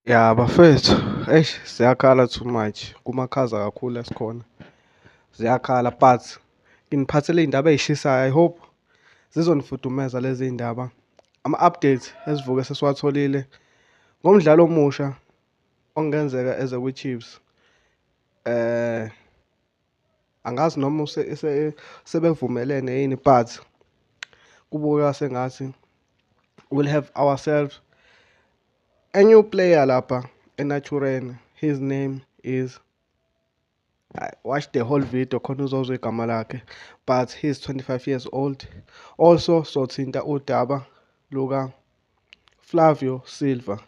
Ya bafethu, eish siyakhala too much. Kumakhaza kakhulu esikhona. Ziyakhala but nginiphathele iy'ndaba ey'shisayo. I hope zizonifudumeza lezi y'ndaba. Ama-update esivuke sesiwatholile ngomdlali omusha okungenzeka eze kwiChiefs. Eh angazi noma sebevumelene yini but kubukeka sengathi we'll have ourselves a new player lapha enatureni his name is I watched the whole video khona uzozwa igama lakhe but he's 25 years old also sothinta udaba luka Flavio Silva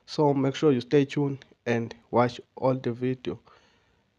so make sure you stay tuned and watch all the video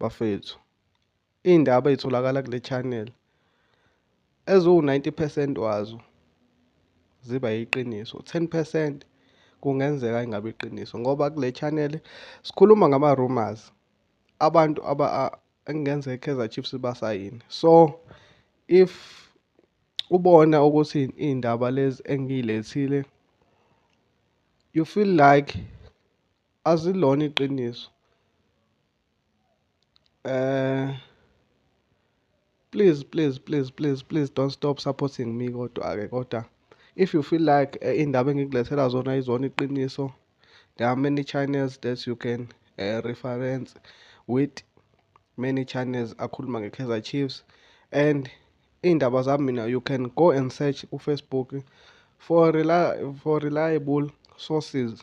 bafethu iy'ndaba ey'tholakala kule channel eziwu-90 percent wazo ziba yiqiniso 10 percent kungenzeka ingabe iqiniso ngoba kule channel sikhuluma ngama-rumors abantu aba engenzeka i-kaizer chiefs basayini so if ubona ukuthi iy'ndaba lezi engiyilethile you feel like Asilona iqiniso. Eh please please please please please don't stop supporting me kodwa ke kodwa if you feel like eh, indaba engikulethela zona izona iqiniso there are many channels that you can uh, reference with many channels akhuluma nge-Kaizer Chiefs and iy'ndaba zami mina you can go and search kufacebook for, reli for reliable sources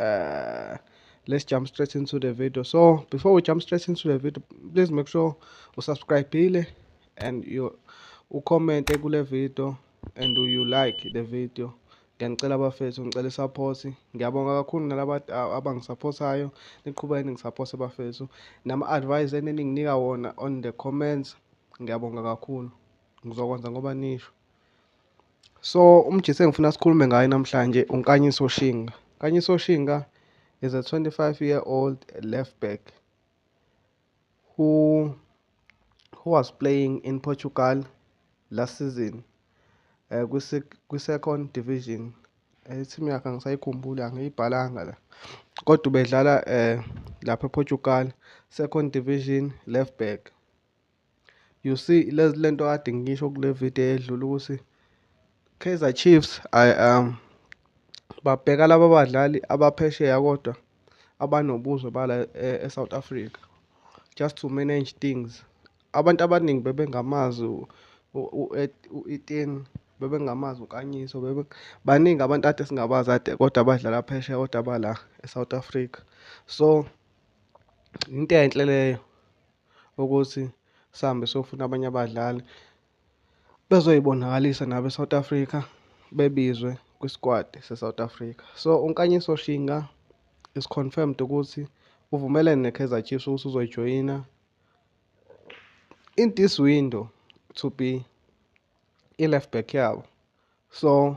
uh, let's jump straight into the video so before we jump straight into the video please make sure you subscribe and you ucommente kule video and you like the video ngiyanicela abafethu ngicela support ngiyabonga kakhulu nalaba abangisapothayo niqhubeke ningisapothe bafethu nama-advice enininginika wona on the comments ngiyabonga kakhulu ngizokwenza ngoba nisho so umjisi engifuna sikhulume ngaye namhlanje unkanyiso shinga kanyiso shinga is a 25 year old left back who who was playing in portugal last season uh, eh, kwi-second division ithimu yakhe angisayikhumbuli angiyibhalanga la kodwa ubedlala um lapha eportugal second division left back You see lezi lento kade ngisho kule video edlule ukuthi Kaizer Chiefs I um babheka laba badlali abaphesheya kodwa abanobuzwe bala eSouth e Africa just to manage things abantu abaningi bebengamazi u-Etienne bebengamazi ukanyiso bebe baningi abantu ade singabazi ade kodwa abadlala phesheya kodwa bala eSouth Africa so into enhle leyo ukuthi sihambe siyofuna abanye abadlali bezoyibonakalisa nabo e-South Africa bebizwe kwi-squad se-South Africa. So uNkanyiso Shinga is confirmed ukuthi uvumelene ne-Kaizer Chiefs ukuthi uzoyijoyina in this window to be i-left back yabo. So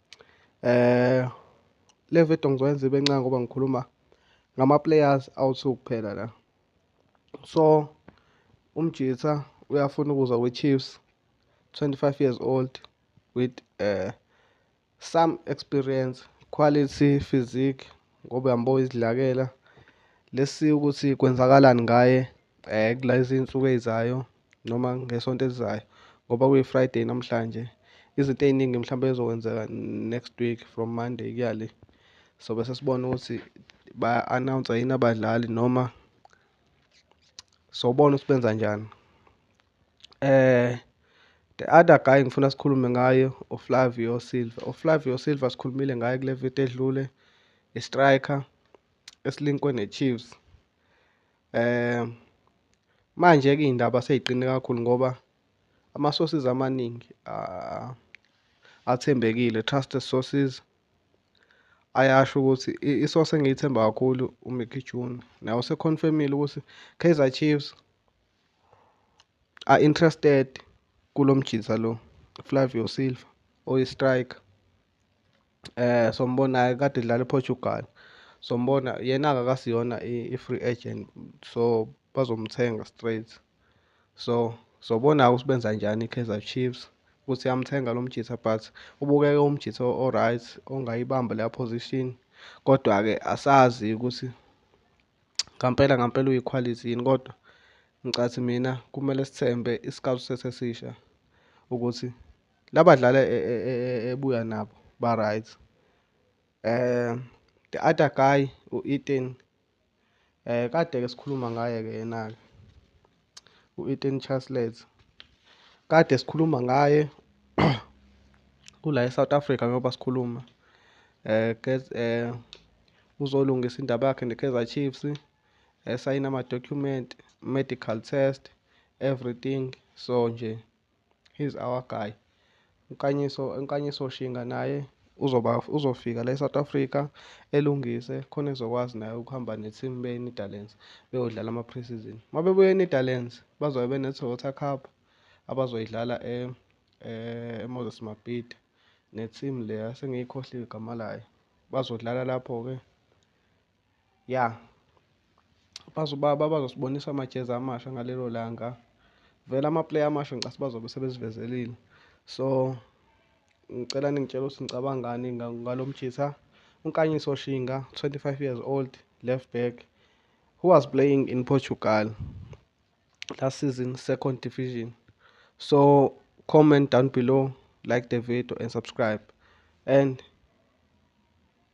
Eh le video ngizoyenza ibe ncane ngoba ngikhuluma ngama-players awu-two kuphela la so umjitha uyafuna ukuza kwi-chiefs 25 years old with uh, some experience quality physique ngoba uyambo izidlakela lesi ukuthi kwenzakalani ngaye um kula izinsuku ey'zayo noma ngesonto elizayo ngoba kuyi-friday namhlanje izinto ey'ningi mhlawumbe ezokwenzeka next week from monday kuya le so bese sibona ukuthi ba-announce yini abadlali noma sobona ukuthi benza njani eh the other guy ngifuna sikhulume ngayo uflavio silva uflavio silva sikhulumile ngaye kule viti edlule i-striker esilinkwe ne-chiefs um manje-ke iy'ndaba sey'qine kakhulu ngoba ama-sources amaningi athembekile trusted sources ayasho ukuthi i-source engiyithemba kakhulu uMickey June naye useconfirmile ukuthi Kaizer Chiefs are interested kulo mjitha lo Flavio Silva oyi-striker eh sombona kade idlala ePortugal sombona yena akakasiyona i-free agent so bazomthenga straight so sobona ukuthi benza njani i-Kaizer Chiefs ukuthi yamthenga lo mjitha but ubukeke umjitha o-right ongayibamba leya position kodwa-ke asazi ukuthi ngampela ngampela uyikhwalithi yini kodwa ngicathi mina kumele sithembe isikhathi sesesisha ukuthi Labadlali e, e, e, ebuya nabo ba right um the other guy u-Eden um kade ke sikhuluma ngaye ke yena-ke u-Eden Chaslet kade sikhuluma ngaye kula e-South Africa ngoba sikhuluma um um uzolungisa indaba yakhe ne-Kaizer Chiefs esayina ama-document medical test everything so nje he's our guy Nkanyiso Nkanyiso Shinga naye uzoba uzofika la eSouth Africa elungise khona ezokwazi naye ukuhamba ne-team beNetherlands beyodlala ama-preseason uma bebuya eNetherlands bazobe bene-Toyota Cup abazoyidlala e-, e-, eMoses Mabhida ne-team leya sengiyikhohliwe igama layo bazodlala lapho-ke ya bazobaba bazosibonisa amajezi amasha ngalelo langa vele amaplayer amasha ngicasi bazobe sebezivezelile so ngicela ningitshela ukuthi ngicabangani ngalo mjitha unkanyiso shinga 25 years old left back who was playing in portugal last season second division so comment down below like the video and subscribe and